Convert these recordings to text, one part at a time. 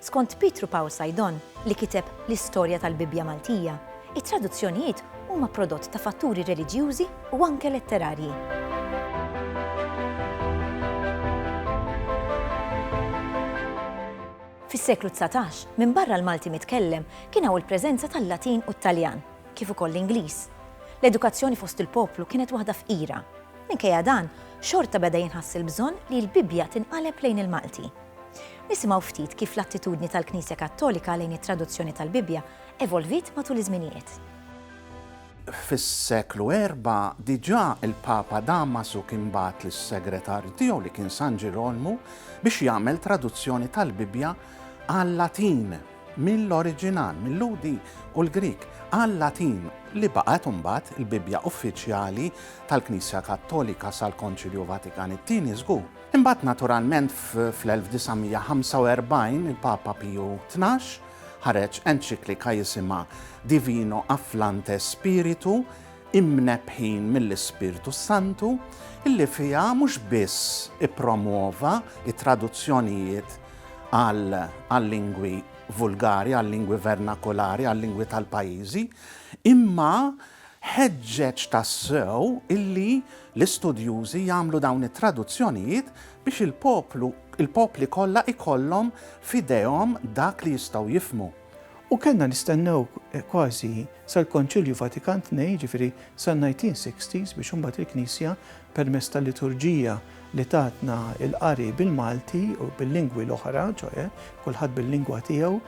Skont Pietru Paul Saidon, li kiteb l-istorja tal-Bibbja Maltija, it-traduzzjonijiet huma prodott ta' fatturi reliġjużi u anke letterarji. Fis-seklu dsatax, minbarra l-Malti mitkellem, kien hawn il-preżenza tal-Latin u t-Taljan, kif ukoll l-Ingliż. L-edukazzjoni fost il-poplu kienet waħda fqira. Minkejja dan, xorta beda jinħass il-bżonn li l-Bibbja tinqaleb lejn il-Malti. Nisimgħu ftit kif l-attitudni tal-Knisja Kattolika lejn it-traduzzjoni tal-Bibbja evolviet matul iż-żminijiet. Fis-seklu erbgħa diġà il-Papa Damasu kien bagħat lis-segretarju tiegħu li kien San Ġirolmu biex jagħmel traduzzjoni tal-Bibbja għal-Latin mill-oriġinal, mil-Lhudi u l-Grieg, għal-Latin li baqgħet imbagħad il-Bibbja uffiċjali tal-Knisja Kattolika sal-Konċilju Vatikan it-Tieni żgur. Imbagħad naturalment fl-1945 il-Papa Piju Tnax ħareġ enċiklika jisimha Divino Afflante Spiritu, Imnebbħin mill-Ispirtu s-Santu, illi fiha mhux biss ippromwova t-traduzzjonijiet għal-lingwi vulgari, għal-lingwi vernakolari, għal-lingwi tal-pajjiżi, imma Ħeġġeġ tassew illi l-istudjużi jagħmlu dawn it-traduzzjonijiet biex il-poplu, il-popli kollha jkollhom f'idejhom dak li jistgħu jifhmu. U kellna nistennew kważi sal-Konċilju Vatikan Tnejn, jiġifieri san-1960s biex imbagħad il-Knisja permezz tal-liturġija, li tatna l-qari bil-Malti u bil-lingwi l-oħra, ċoe, kulħadd bil-lingwa tiegħu,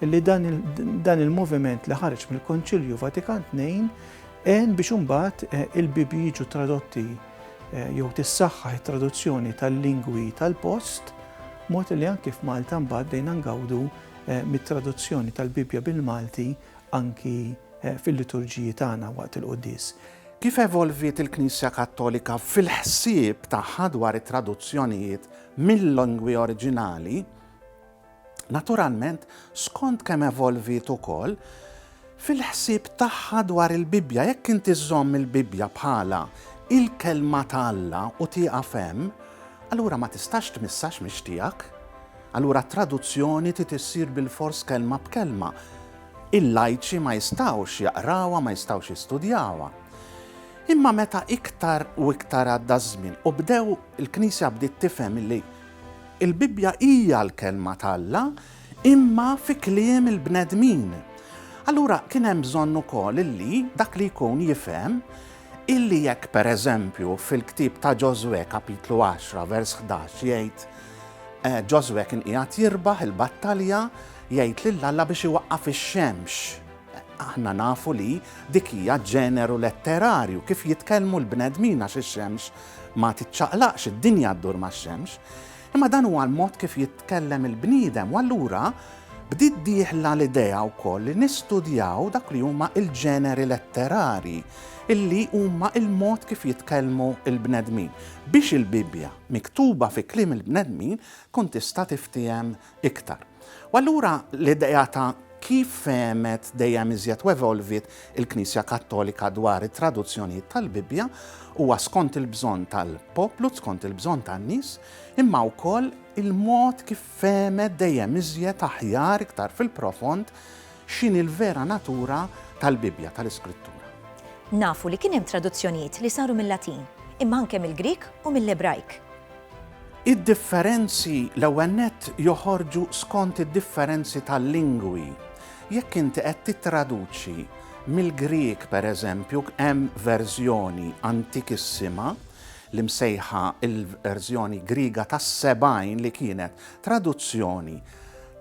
li dan il-moviment li ħareġ mill-Konċilju Vatikan Tnejn għen biex imbagħad eh, il-Bibji jiġu tradotti eh, jew tissaħħaħ it-traduzzjoni tal-lingwi tal-post, mod li anki f'Malta mbagħad dejna ngawdu eh, mit-traduzzjoni tal-Bibja bil-Malti anki fil-liturġiji tagħna waqt il-quddies. Kif evolviet il-Knisja Kattolika fil-ħsieb tagħha dwar it-traduzzjonijiet mil-lingwi oriġinali? Naturalment, skont kemm evolviet ukoll fil-ħsieb tagħha dwar il-Bibbja. Jekk inti żżomm il-Bibbja bħala il-Kelma ta' Alla u tieqaf hemm, allura ma tistax tmisshax mhix tiegħek. Allura t-traduzzjoni trid issir bilfors kelma b'kelma. Il-lajċi ma jistgħux jaqrawha, ma jistgħux jistudjawha. Imma meta iktar u iktar għadda ż-żmien u bdew, il-Knisja bdiet tifhem illi l-Bibbja hija l-Kelma t'Alla imma fi kliem il-bnedmin. Allura kien hemm bżonn ukoll illi dak li jkun jifhem illi jekk pereżempju fil-ktieb ta' Ġożwè kapitlu għaxra vers ħdax jgħid Ġożwè kien qiegħed jirbaħ il-battalja, Jgħid lil Alla biex iwaqqaf ix-xemx. Aħna nafu li dik hija ġeneru letterarju, kif jitkellmu l-bnedmin għax ix-xemx ma tiċċaqlaqx, id-dinja ddur max-xemx. Imma dan huwa l-mod kif jitkellem il-bniedem u allura bdiet dieħla l-idea wkoll li nistudjaw dak li huma l-ġeneri letterarji illi huma l-mod kif jitkellmu l-bnedmin biex il-Bibbja miktuba fi kliem il-bnedmin tkun tista' tiftiehem iktar. U allura l-idea ta' kif femet dejjem iżjed u evolvit il-Knisja Kattolika dwar it-traduzzjonijiet tal-Bibbja huwa skont il-bżonn tal-poplu, skont il-bżonn tan-nies, imma wkoll il-mod kif femet dejjem iżjed aħjar iktar fil-profond X'inhi l-vera natura tal-Bibbja, tal-Iskrittura? Nafu li kien hemm traduzzjonijiet li saru mil-Latin, imma anke mill-Grieg u mill-Ebrajk. Id-differenzi l-ewwel nett joħorġu skont id-differenzi tal-lingwi. Jekk inti qed tittraduċi mill-Grieg, pereżempju, hemm verżjoni antikissima li msejħa l-verżjoni Griega tas-70 li kienet traduzzjoni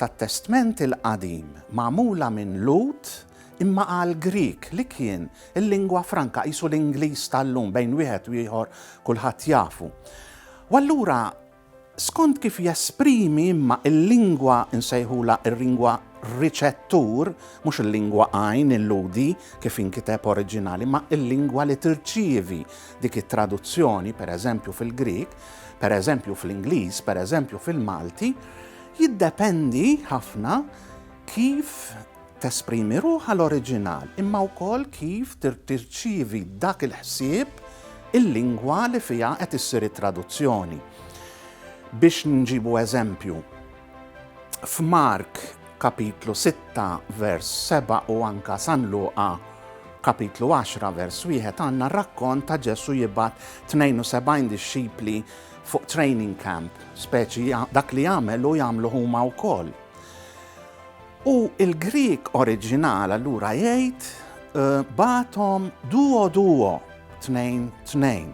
tat-Testment il-Qadim magħmula minn Lhud imma għal Grieg li kien il-lingwa franka, qisu l-Ingliż tal-lum, bejn wieħed u ieħor kulħadd jafu. U allura skont kif jesprimi imma il-lingwa nsejħula il-lingwa riċettur, mhux il-lingwa għajn illudi kif inkiteb oriġinali, ma il-lingwa li tirċievi dik it-traduzzjoni, pereżempju fil-Grieg, pereżempju fl-Ingliż, pereżempju fil-Malti, jiddependi ħafna kif tesprimi ruħha l-oriġinal, imma wkoll kif tirċievi dak il-ħsieb il-lingwa li fiha qed issir it-traduzzjoni. Biex nġibu eżempju, f'Mark kapitlu 6 vers 7 u anka San Luqa kapitlu 10 vers 1 għandna rakkont ta' Ġesu jibgħat 72 dixxipli fuq training camp, speċi dak li jagħmel u jagħmlu huma wkoll. U il-Grik oriġinal allura jgħid eh, batom duo duo tnejn tnejn.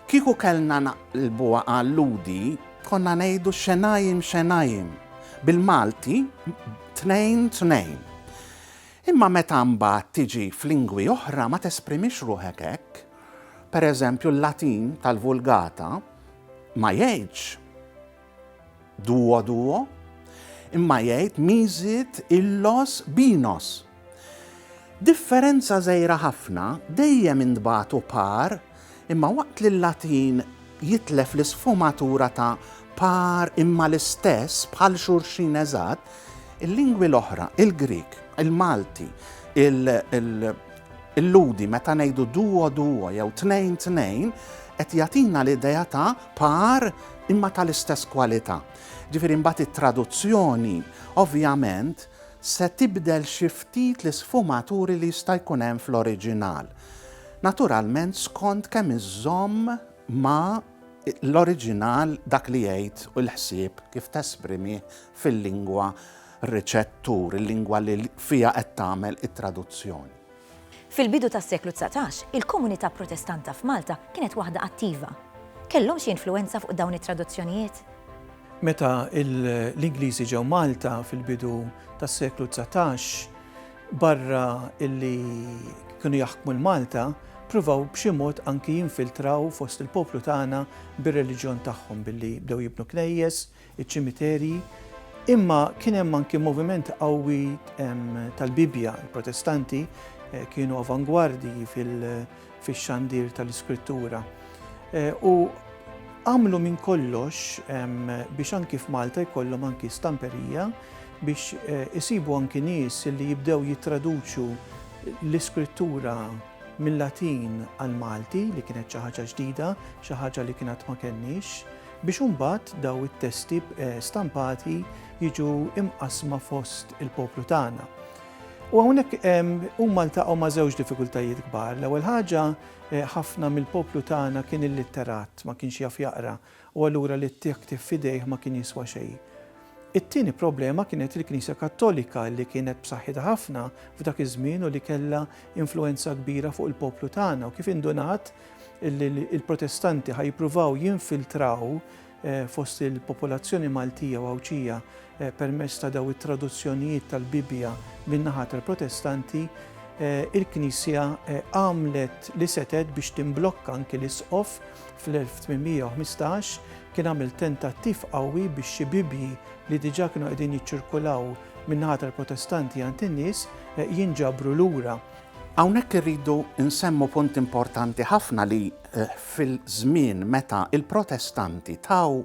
Kieku kellna naqlbuha għal Lhudi konna ngħidu xenajim xenajim, bil-Malti tnejn tnejn. Imma meta mbagħad tiġi f'lingwi oħra ma tesprimix ruħek hekk. Pereżempju l-Latin tal-Vulgata ma jgħidx Duo duo, imma jgħid miżiet illos binos. Differenza żgħira ħafna, dejjem intbagħtu par imma waqt li l-Latin jitlef l-isfumatura ta' par imma l-istess bħal xulxin eżatt, il-lingwi l-oħra, il-Grieg, il-Malti, il-Lhudi meta ngħidu duo duo jew tnejn tnejn qed jagħtina l-idea ta' par imma tal-istess kwalità. Jiġifieri mbagħad it-traduzzjoni ovvjament se tibdel xi ftit l-isfumaturi li jista' jkun hemm fl-oriġinal. Naturalment skont kemm iżżomm ma' l-oriġinal dak li jgħid u l-ħsieb kif tesprimih fil-lingwa riċettur, il-lingwa li fiha qed tagħmel it-traduzzjoni. Fil-bidu tas-seklu dsatax, il-komunità Protestanta f'Malta kienet waħda attiva. Kellhom xi influwenza fuq dawn it-traduzzjonijiet? Meta l-Ingliżi ġew Malta fil-bidu tas-seklu dsatax, barra illi kienu jaħkmu 'l Malta, pruvaw b'xi mod anki jinfiltraw fost il-poplu tagħna bir-reliġjon tagħhom billi bdew jibnu knejjes, iċ-ċimiterji, imma kien hemm anki moviment qawwi tal-Bibbja. Il-Protestanti kienu avangwardji fix-xandir tal-Iskrittura u għamlu minn kollox biex anki f'Malta jkollhom anki stamperija biex isibu anki nies li jibdew jittraduċu l-Iskrittura mil-Latin għall-Malti li kienet xi ħaġa ġdida, xi ħaġa li kien għad ma kenniex. biex imbagħad dawn it-testi stampati jiġu mqassma fost il-poplu tagħna. U hawnhekk huma ltaqgħu ma' żewġ diffikultajiet kbar. L-ewwel ħaġa eh, ħafna mill-poplu tagħna kien illitterat, ma kienx jaf jaqra, u allura li t-tiktib fidejh ma kien jiswa xejn. It-tieni problema kienet il-Knisja Kattolika li kienet b'saħħitha ħafna f'dak iż-żmien u li kellha influenza kbira fuq il-poplu tagħna u kif indunat li l-Protestanti ħa jippruvaw jinfiltraw eh, fost il-popolazzjoni Maltija u Għawdxija eh, permezz ta' daw it-traduzzjonijiet tal-Bibbja min-naħa tal-Protestanti, eh, il-Knisja għamlet li setet biex timblokka anki l-isqof fl-1815 kien għamil tentattiv qawwi biex xi Bibbji li diġà kienu qegħdin jiċċirkulaw min-naħa tal-Protestanti għand in-nies jinġabru lura. Hawnhekk irridu nsemmu punt importanti ħafna li fil-żmien meta l-Protestanti taw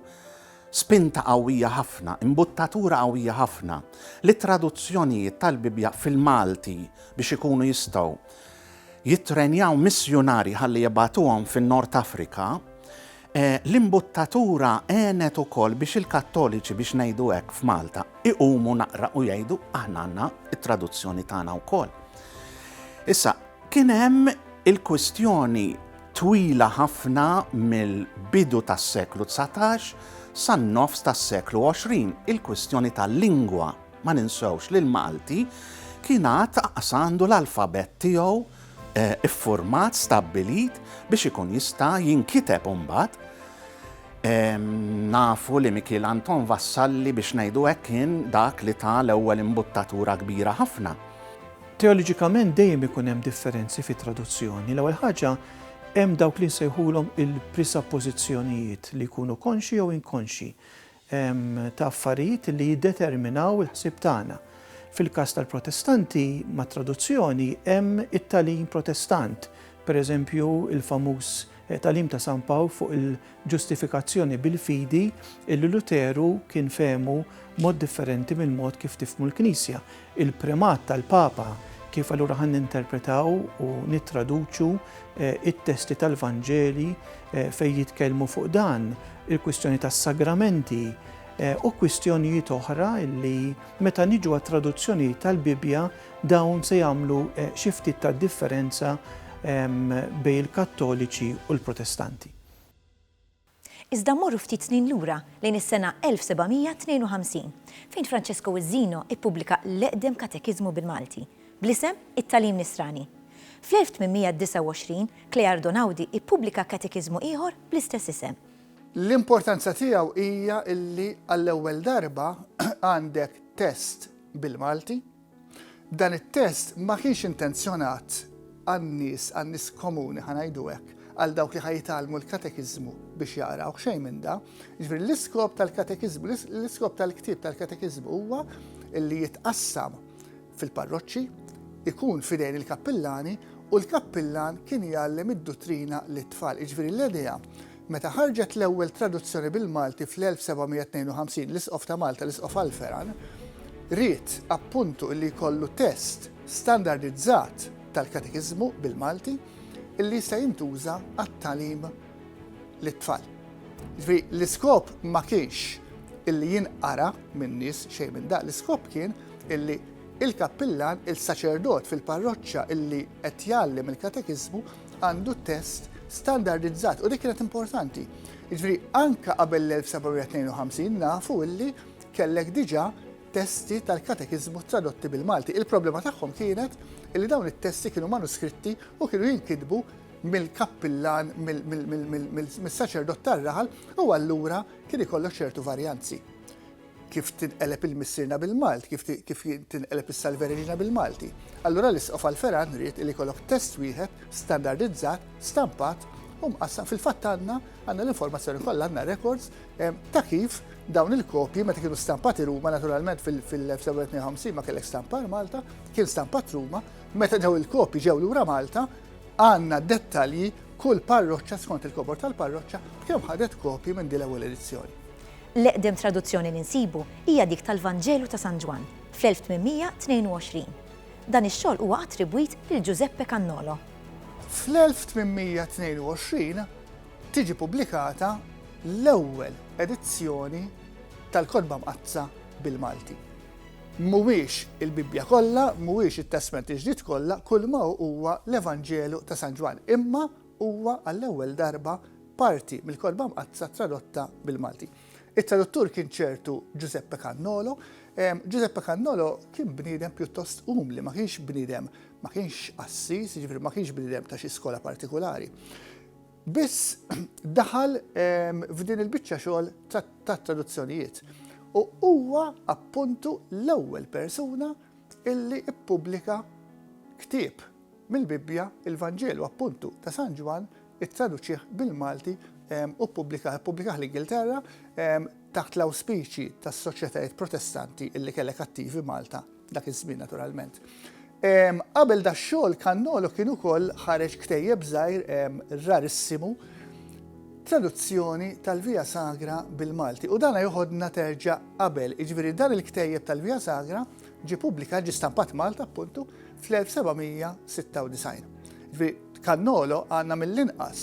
spinta qawwija ħafna, imbuttatura qawwija ħafna, lit-traduzzjonijiet tal-Bibbja fil-Malti biex ikunu jistgħu jittrenjaw missjunarji ħalli jibgħatuhom fin-Nord Afrika, L-imbuttatura għenet ukoll biex il-Kattoliċi, biex ngħidu hekk, f'Malta, iqumu naqra u jgħidu, aħna għandna t-traduzzjoni tagħna wkoll. Issa, kien hemm il-kwistjoni twila ħafna mill-bidu tas-seklu 19 san-nofs tas-seklu 20, il-kwistjoni tal-lingwa. Ma ninsewx li l-Malti kien għad aqas għandu l-alfabett tiegħu iffurmat, stabbilit biex ikun jista' jinkiteb imbagħad. Nafu li Mikiel Anton Vassalli biex ngħidu hekk kien dak li ta l-ewwel imbuttatura kbira ħafna. Teoloġikament dejjem ikun hemm differenzi fit-traduzzjoni. L-ewwel ħaġa hemm dawk li nsejħulhom il-prisappożizzjonijiet li jkunu konxji jew inkonxji. ta' affarijiet li jiddeterminaw il-ħsieb tagħna. Fil-każ tal-Protestanti, mat-traduzzjoni hemm it-tagħlim Protestant, pereżempju l-famuż tagħlim ta' San Pawl fuq il-ġustifikazzjoni bil-fidi illi Luteru kien fehmu mod differenti mill-mod kif tifhmu l-Knisja. il-primat tal-Papa, kif allura ħa ninterpretaw u nittraduċu t-testi tal-Vanġeli fejn jitkellmu fuq dan, il-kwistjoni tas-sagramenti u kwistjonijiet oħra li meta niġu għat-traduzzjoni tal-Bibbja dawn se jagħmlu xi ftit ta' differenza bejn il-Kattoliċi u l-Protestanti. Iżda mmorru ftit snin lura lejn is-sena 1752 fejn Francesco Uzzino ippubblika l-eqdem katekiżmu bil-Malti, bl-isem It-Tagħlim Nisrani. Fl-1829 Cleardo Naudi ippubblika katekiżmu ieħor bl-istess isem. L-importanza tiegħu hija li għall-ewwel darba għandek test bil-Malti. Dan it-test ma kienx intenzjonat għan-nies, għan-nies komuni ħa ngħidu hekk, għal dawk li ħajtalmu l-katekiżmu biex jaqraw xejn minn da. Ġifieri l-iskop tal-katekiżmu, l-iskop tal-ktieb tal-katekiżmu huwa li jitqassam fil-parroċċi, ikun fidejn il-kappillani u l-kappillan kien jgħallem id-duttrina lit-tfal. Ġifieri l-idea Meta ħarġet l-ewwel traduzzjoni bil-Malti fl-1752, l-Isqof ta' Malta, l-Isqof Alferan, ried, appuntu, li jkollu test standardizzat tal-Katekiżmu bil-Malti li jista' jintuża għat-tagħlim lit-tfal. Ġifieri l-iskop ma kienx illi jinqara min-nies xejn minn daq, l-iskop kien illi il-kappillan, il-saċerdot fil-parroċċa illi qed jgħallem il-katekiżmu għandu test standardizzat u dik kienet importanti. Jiġifieri anke qabel l-1752 nafu illi kellek diġà testi tal-katekiżmu tradotti bil-Malti. Il-problema tagħhom kienet illi dawn it-testi kienu manuskritti u kienu jinkitbu mill-kappillan, mill-saċerdot tar-raħal u allura kien ikollok ċertu varjanzi. Kif tinqeleb il-Missierna bil-Malti? Kif kif tinqeleb is-Salve Regina bil-Malti? Allura l-Isqof Alferan ried li jkollok test wieħed standardizzat, stampat u mqassam. Fil-fatt għandna għandna l-informazzjoni kollha, għandna records ta' kif dawn il-kopji meta kienu stampati Ruma naturalment fil-1952 ma kellek stampar Malta, kien stampat Ruma, meta daw il-kopji ġew lura Malta, għandna dettalji kull parroċċa skont il-kobor tal-parroċċa kemm ħadet kopji minn din l-ewwel edizzjoni. L-eqdem traduzzjoni li nsibu hija dik tal-Vanġelu ta' San Ġwann fl-1822. Dan ix-xogħol huwa attribwit lil Giuseppe Cannolo. Fl-1822 tiġi pubblikata l-ewwel edizzjoni tal-Kotba Mqaddsa bil-Malti. Mhuwiex il-Bibbja kollha, mhuwiex it-Testment il-Ġdid kollha, kulma hu huwa l-Evanġelu ta' San Ġwann, imma Huwa għall-ewwel darba parti mill-Kotba Mqaddsa tradotta bil-Malti. It-traduttur kien ċertu Ġużeppe Cannolo. Ġużeppe Cannolo kien bniedem pjuttost umli, ma kienx bniedem, ma kienx qassis, jiġifieri ma kienx bniedem ta' xi skola partikulari. Biss daħal f'din il-biċċa xogħol tat-traduzzjonijiet u huwa appuntu l-ewwel persuna illi ppubblika ktieb Mill-Bibbja, il-Vanġelu appuntu ta' San Ġwann ittraduċih bil-Malti u ppubblikah ppubblikah l-Ingilterra taħt l-awspiċji tas-soċjetajiet Protestanti illi kellek attivi Malta dak iż-żmien naturalment. Qabel dax-xogħol Kannolo kien ukoll ħareġ ktejjeb żgħir rarissimu traduzzjoni tal-Via Sagra bil-Malti u dana joħodna terġa' qabel, jiġifieri dan il-ktejjeb tal-Via Sagra Ġie pubblikat, ġie stampat Malta appuntu fl-1796. Ġifieri Cannolo għandna mill-inqas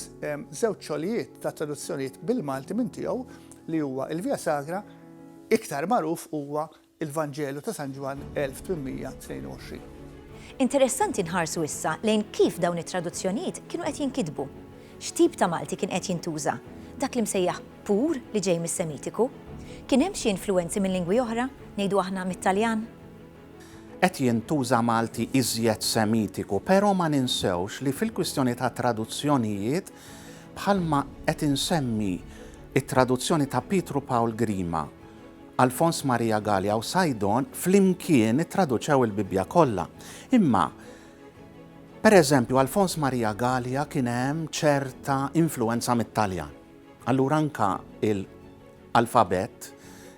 żewġ xogħlijiet ta' traduzzjonijiet bil-Malti minn tiegħu li huwa il-Via Sagra iktar magħruf huwa il-Vanġelu ta' San Ġwann 1822. Interessanti nħarsu issa lejn kif dawn it-traduzzjonijiet kienu qed jinkitbu. X'tip ta' Malti kien qed jintuża? Dak li msejjaħ pur li ġej mis-Semitiku. Kien hemm xi influwenzi minn lingwi oħra, ngħidu aħna mit-Taljan? Qed jintuża Malti iżjed Semitiku, pero ma ninsewx li fil-kwistjoni tat-traduzzjonijiet, bħalma qed insemmi t-traduzzjoni ta' Pietru Pawl Grima, Alfons Maria Galea u Sajdon flimkien ittraduċew il-Bibbja kollha. Imma, pereżempju, Alfons Maria Galea kien hemm ċerta influwenza mit-Taljan. Allura anke l-alfabett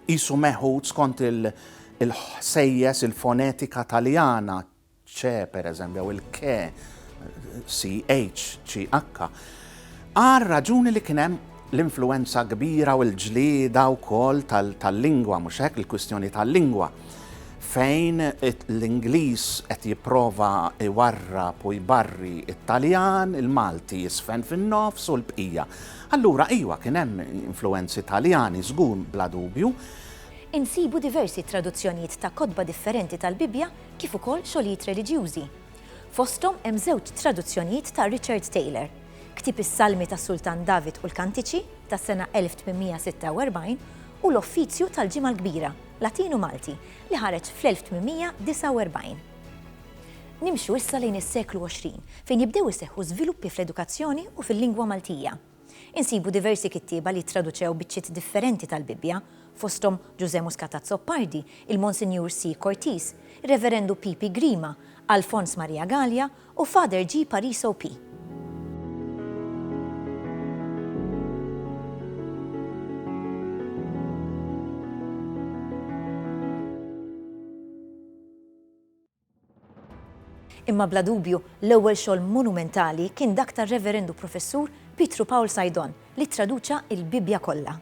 qisu meħud skont il-ħsejjes, il-fonetika Taljana, c pereżempju, jew il-ke, ch, ch, għar-raġuni li kien hemm l-influwenza kbira u l-ġlieda wkoll tal-lingwa, mhux hekk, il-kwistjoni tal-lingwa. fejn l-Ingliż qed jipprova jwarrab u jbarri t-Taljan, il-Malti jisfen fin-nofs u l-bqija. Allura iwa kien hemm influwenzi Taljani żgur bla dubju. Insibu diversi traduzzjonijiet ta' kotba differenti tal-Bibbja kif ukoll xogħlijiet reliġjużi. Fosthom hemm żewġ traduzzjonijiet ta' Richard Taylor, ktieb is-Salmi tas-Sultan David u l-Kantiċi, tas-sena 1846, u l-Offizju tal-Ġimgħa l-Kbira. Latinu-Malti li ħareġ fl-1849. Nimxu issa lejn is-seklu 20, fejn jibdew iseħħu żviluppi fl-edukazzjoni u fil-lingwa Maltija. Insibu diversi kittieba li ttraduċew biċċiet differenti tal-Bibbja, fosthom Ġużè Muscat Azzopardi, il-Monsinjur C. Cortis, ir-Reverendu Pipi Grima, Alfons Maria Galea u Father G. Pariso P. Imma bla dubju, l-ewwel xogħol monumentali kien dak tar-Reverend u Professur Pietru Paul Saidon, li ttraduċa l-Bibbja kollha.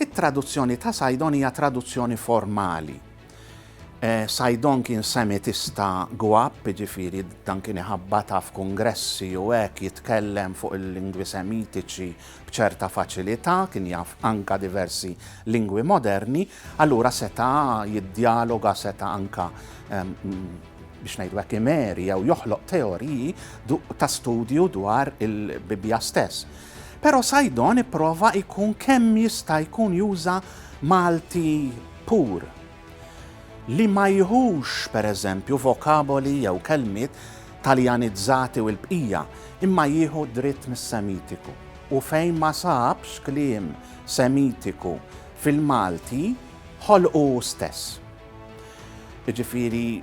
It-traduzzjoni ta' Sajdon hija traduzzjoni formali. Sajdon kien Semitista gwab, jiġifieri dan kien iħabbatha f'kungressi u hekk jitkellem fuq il-lingwi Semitiċi b'ċerta faċilità, kien jaf anka diversi lingwi moderni, allura seta' jiddjaloga, seta' anka, biex ngħidu hekk, imeri jew joħloq teoriji ta' studju dwar il-Bibbja stess. Però Saidon ipprova jkun kemm jista' jkun juża Malti pur, li ma jħux, pereżempju, vokaboli jew kelmiet Taljanizzati u l-bqija, imma jieħu dritt mis-Semitiku. U fejn ma sabx kliem Semitiku fil-Malti, ħolqu hu stess. Jiġifieri,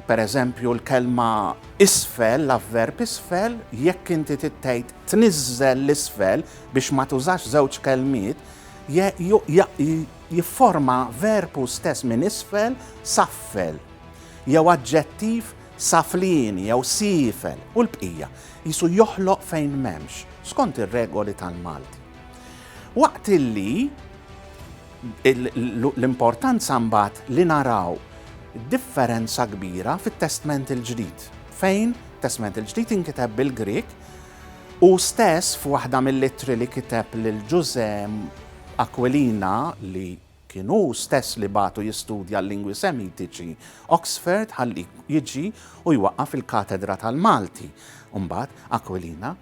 per eżempju, l-kelma isfel, l-avverb isfel, jekk inti trid tgħid tniżżel 'l isfel biex ma tużax żewġ kelmiet, jifforma verb hu stess minn isfel saffel, jew aġġettiv saflieni jew siefel u l-bqija, qisu joħloq fejn m'hemmx, skont ir-regoli tal-Malti. Waqt li l-importanza mbagħad li naraw differenza kbira fit-Testment il-Ġdid, fejn Testment il-Ġdid inkiteb bil-Grieg u stess f'waħda mill-ittri li kiteb lil Ġużè Aquilina li Kien hu stess li bagħtu jistudja l-lingwi Semitiċi Oxford ħalli jiġi u jwaqqaf il-katedra tal-Malti, u mbagħad Aquilina.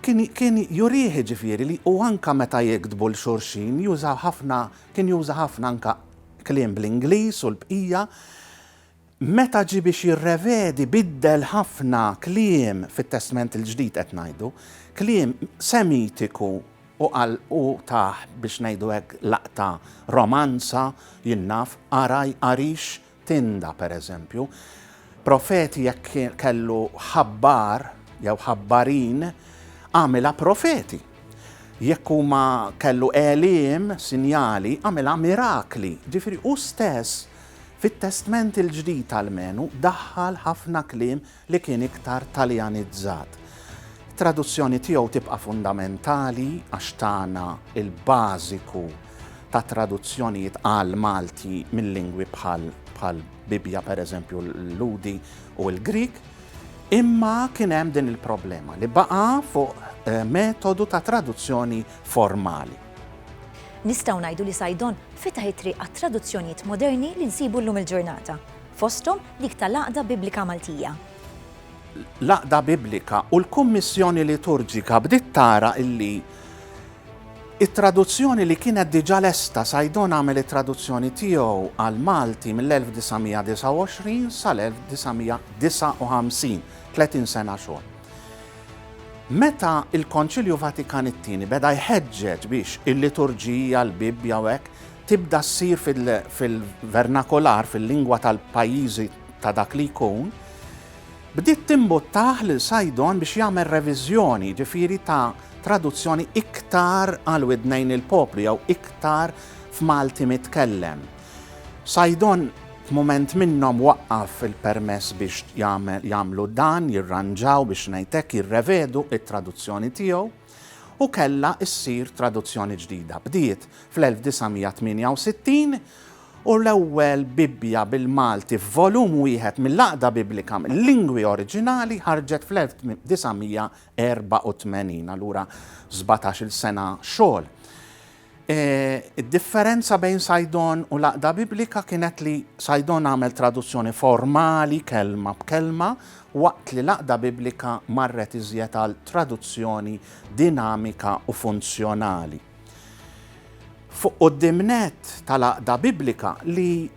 Kien kien jurih jiġifieri li u anke meta jiktbu 'l xulxin jużaw ħafna kien juża ħafna anke kliem bl-Ingliż u l-bqija. Meta ġie biex jirrevedi biddel ħafna kliem fit-Testment il-Ġdid qed ngħidu, kliem Semitiku u qal u tah biex ngħidu hekk laqta romanza, jien naf, għaraj, għarix, tinda pereżempju. Profeti jekk kellu ħabbar jew ħabbarin għamilha profeti. Jekk huma kellu għeliem, sinjali, għamilha mirakli. Ġifieri hu stess Fit-Testment il-Ġdid almenu daħħal ħafna kliem li kien iktar Taljanizzat. It-traduzzjoni tiegħu tibqa' fundamentali għax tana l-bażiku ta' traduzzjonijiet għall-Malti minn lingwi bħal Bibbja pereżempju l-Lhudi u l-Grieg. Imma kien hemm din il-problema li baqa' fuq metodu ta' traduzzjoni formali. Nistgħu ngħidu li Saidon fetaħ it-triq għat-traduzzjonijiet moderni li nsibu llum il-ġurnata, fosthom dik ta' l-Għaqda Biblika Maltija. L-Għaqda Biblika u l-Kummissjoni Liturġika bdiet tara li t-traduzzjoni li kienet diġà lesta, Saidon għamel it-traduzzjoni tiegħu għall-Malti mill-1929 sal-1959, tletin sena xogħol. Meta l-Konċilju Vatikan it-Tieni beda jħeġġeġ biex il-liturġija, l-Bibbja u hekk tibda ssir fil-vernakolar, fil-lingwa tal-pajjiżi ta' dak li jkun, bdiet timbuttah lil Sajdon biex jagħmel reviżjoni, ġifieri ta' traduzzjoni iktar għal widnejn il-poplu jew iktar f'Malti mitkellem. Saidon f'mument minnhom waqqaf il-permess biex jagħmlu dan, jirranġaw, biex ngħid hekk, jirrevedu t-traduzzjoni tiegħu, u kellha ssir traduzzjoni ġdida. Bdiet fl-1968 u l-ewwel Bibbja bil-Malti f'volum wieħed mill-Għaqda Biblika l-lingwi oriġinali ħarġet fl-1984, allura sbatax-il sena xogħol. Id-differenza bejn Sajdon u l-Għaqda Biblika kienet li Sajdon għamel traduzzjoni formali kelma b'kelma waqt li l-Għaqda Biblika marret iżjed għal traduzzjoni dinamika u funzjonali. Fuq quddiem nett tal-Għaqda Biblika li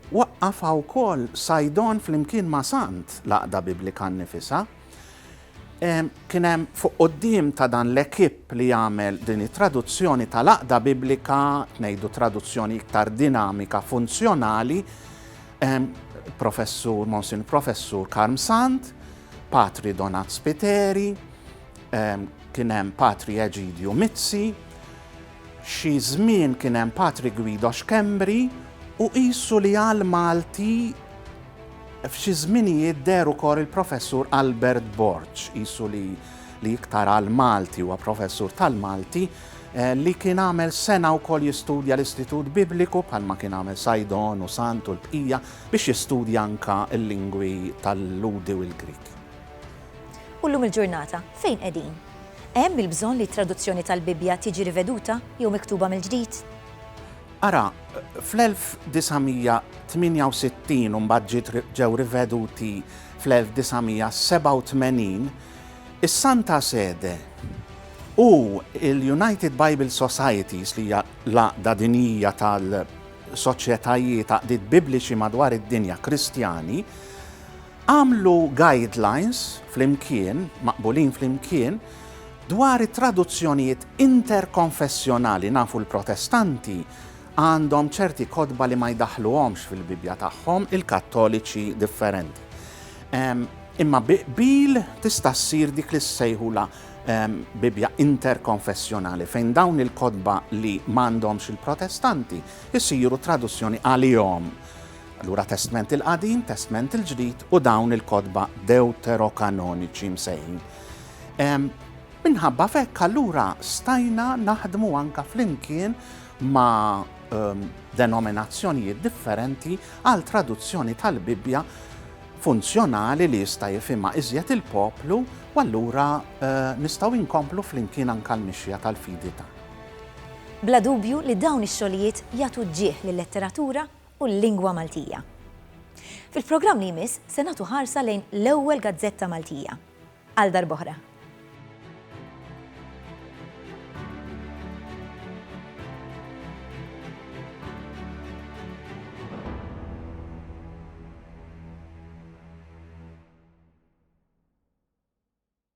waqqafha wkoll Sajdon flimkien ma' Sant l-Għaqda Biblika nnifisha, Kien hemm fuq quddiem ta' dan l-ekip li jagħmel din it-traduzzjoni tal-Għaqda Biblika, ngħidu traduzzjoni iktar dinamika, funzjonali, professur, Monsin Professur Karm Sant, Patri Donat Spiteri, kien hemm Patri Eġidju Mizzi, Xi żmien kien hemm Patri Guido Schembri u qisu li għal Malti f'xi żminijiet deher ukoll il-Professur Albert Borg, qisu li li iktar għal Malti, huwa Professur tal-Malti, li kien għamel sena wkoll jistudja l-Istitut Bibliku bħalma kien għamel Saidon u Sant u l-bqija biex jistudja anka l-lingwi tal-Lhudi u l-Grieg. U llum il-ġurnata, fejn qegħdin? Hemm il-bżonn li t-traduzzjoni tal-Bibbja tiġi riveduta jew miktuba mill-ġdid? Ara, fl-1968 u mbagħad ġew riveduti fl-1987, is-Santa Sede u l-United Bible Societies, li hija l-għaqda dinjija tal-soċjetajiet, għaqdiet Bibliċi madwar id-dinja Kristjani, Agħmlu guidelines flimkien, maqbulin flimkien, dwar it-traduzzjonijiet interkonfessjonali, nafu l-Protestanti għandhom ċerti kotba li ma jdaħħluhomx fil-Bibbja tagħhom, il-Kattoliċi differenti. Imma bi qbil tista' ssir dik li ssejħulha Bibbja interkonfessjonali fejn dawn il-kotba li m'għandhomx il-Protestanti jsiru traduzzjoni għalihom Allura Testment il-Qadim, Testment il-Ġdid u dawn il-kotba Dewterokanoniċi msejħin. Minħabba f'hekk allura stajna naħdmu anka flimkien ma' ehm, denominazzjonijiet differenti għal traduzzjoni tal-Bibbja funzjonali li jista' jifhimha iżjed il-poplu u allura eh, nistgħu inkomplu flimkien anka l-mixja tal-fidi ta'. Bla dubju li dawn ix-xogħlijiet jagħtu ġieħ lil letteratura u l-lingwa Maltija. Fil-programm li jmiss se nagħtu ħarsa lejn l-ewwel gazzetta Maltija. Għal darb'oħra.